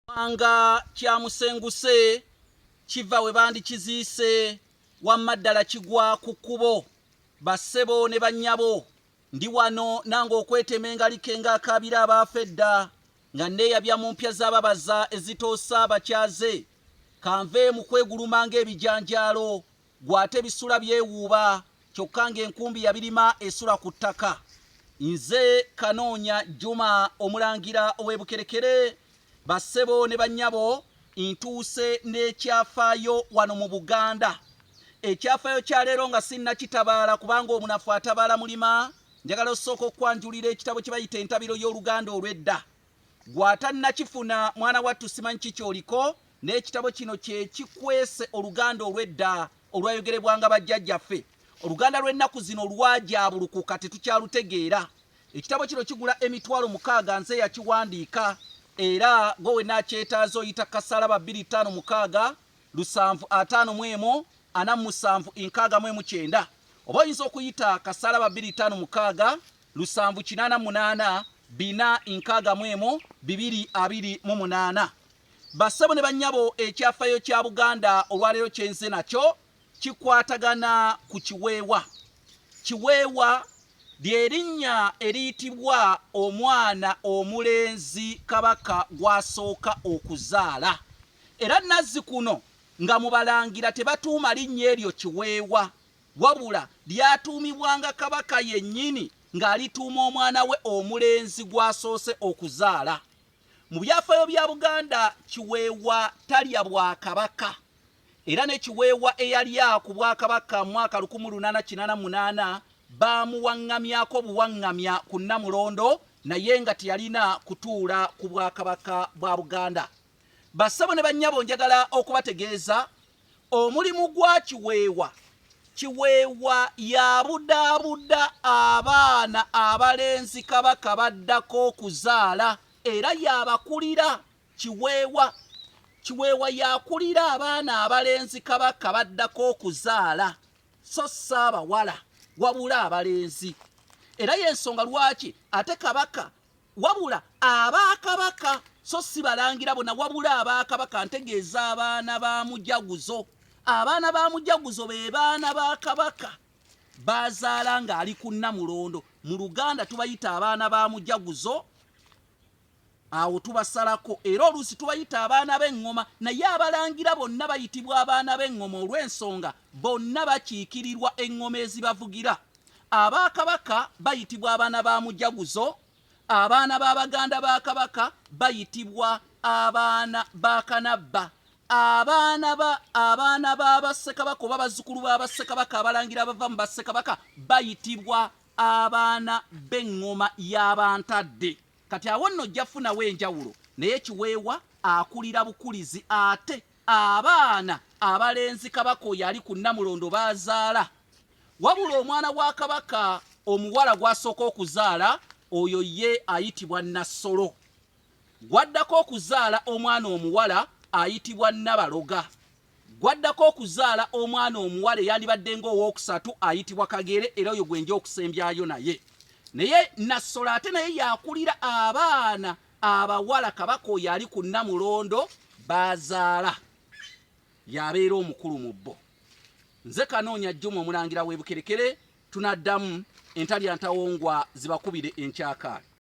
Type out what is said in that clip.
Kubanga kyamusenguse kiva we bandikiziise wamma ddala kigwa ku kkubo bassebo ne bannyabo ndi wano nange okwetema engalike ng'akaabira abaafa edda nga nneeyabya mu mpya z'ababaza ezitoosa abakyaze kanve mu kweguluma ng'ebijanjaalo Ggwe ate bisula byewuuba kyokka ng'enkumbi yabirima esula ku ttaka. Nze Kanoonya Juma Omulangira ow'e Bukerekere, bassebo ne bannyabo ntuuse n'ekyafaayo wano mu Buganda. Ekyafaayo kya leero nga sinnakitabaala kubanga omunafu atabaala mulima, njagala osooka okukwanjulira ekitabo kye bayita Entabiro y'Oluganda olw'edda. Gw'atannakifuna, mwana wattu simanyi ki ky'oliko, naye ekitabo kino kye kikwese oluganda olw'edda olwayogerebwanga bajjajjaffe. Oluganda lw'ennaku zino lwajaabulukuka tetukyalutegeera. Ekitabo kino kigula emitwalo mukaaga nze eyakiwandiika era gwe wenna akyetaaze oyita ku kasalaba bbiri ttaano mukaaga lusanvu ataano mu emu ana mu musanvu nkaaga mu emu kyenda oba oyinza okuyita kasalaba bbiri ttaano mukaaga lusanvu kinaana munaana bina nkaaga mu emu bibiri abiri mu munaana bassebo ne bannyabo ekyafayo kya buganda olwaleero kyenze nakyo kikwatagana ku kiweewa kiweewa lyerinnya eriyitibwa omwana omulenzi kabaka gwasooka okuzaala era nazzi kuno nga mubalangira tebatuuma linnya eryo kiweewa Wabula lyatuumibwanga Kabaka yennyini ng'alituuma omwana we omulenzi gw'asoose okuzaala. Mu byafaayo bya Buganda, Kiweewa talya Bwakabaka era ne Kiweewa eyalya ku Bwakabaka mu mwaka lukumu lunaana kinaana mu munaana baamuwaŋŋamyako buwaŋŋamya ku Nnamulondo naye nga teyalina kutuula ku Bwakabaka bwa Buganda. Bassebo ne bannyabo njagala okubategeeza omulimu gwa Kiweewa. Kiweewa y'abudaabuda abaana abalenzi Kabaka b'addako okuzaala era y'abakulira. Kiweewa Kiweewa y'akulira abaana abalenzi Kabaka b'addako okuzaala so si abawala wabula abalenzi era y'ensonga lwaki ate Kabaka Wabula aba kabaka so si balangira bona wabula aba kabaka ntegeeza abaana ba mujaguzo abaana ba mujaguzo be baana ba kabaka bazaala ng'ali ku nnamulondo mu luganda tubayita abaana ba mujaguzo awo tubasalako era oluusi tubayita abaana b'eŋŋoma naye abalangira bonna bayitibwa abaana b'eŋŋoma olw'ensonga Bonna bakiikirirwa eŋŋoma ezibavugira. Aba Kabaka bayitibwa abaana ba Mujaguzo, abaana ba baganda ba Kabaka bayitibwa abaana ba Kanabba, abaana ba abaana ba Bassekabaka oba bazzukulu ba Bassekabaka abalangira abava mu Bassekabaka bayitibwa abaana b'eŋŋoma ya Bantadde. Kati awo nno ojja kufunawo enjawulo naye Kiweewa akulira bukulizi ate Abaana abalenzi Kabaka oyo ali ku Nnamulondo b'azaala. Wabula omwana wa Kabaka omuwala gw'asooka okuzaala oyo ye ayitibwa Nnassolo. Gw'addako okuzaala omwana omuwala ayitibwa Nnabaloga. Gw'addako okuzaala omwana omuwala eyandibadde ng'owookusatu ayitibwa Kagere era oyo gwe nja okusembyayo naye. Naye Nnassolo ate naye y'akulira abaana. Abawala Kabaka oyo ali ku Nnamulondo b'azaala y'abeera omukulu mu bo. Nze Kanoonya Juma Omulangira w'e Bukerekere tunaddamu entalya ntawongwa zibakubire enkyakaala.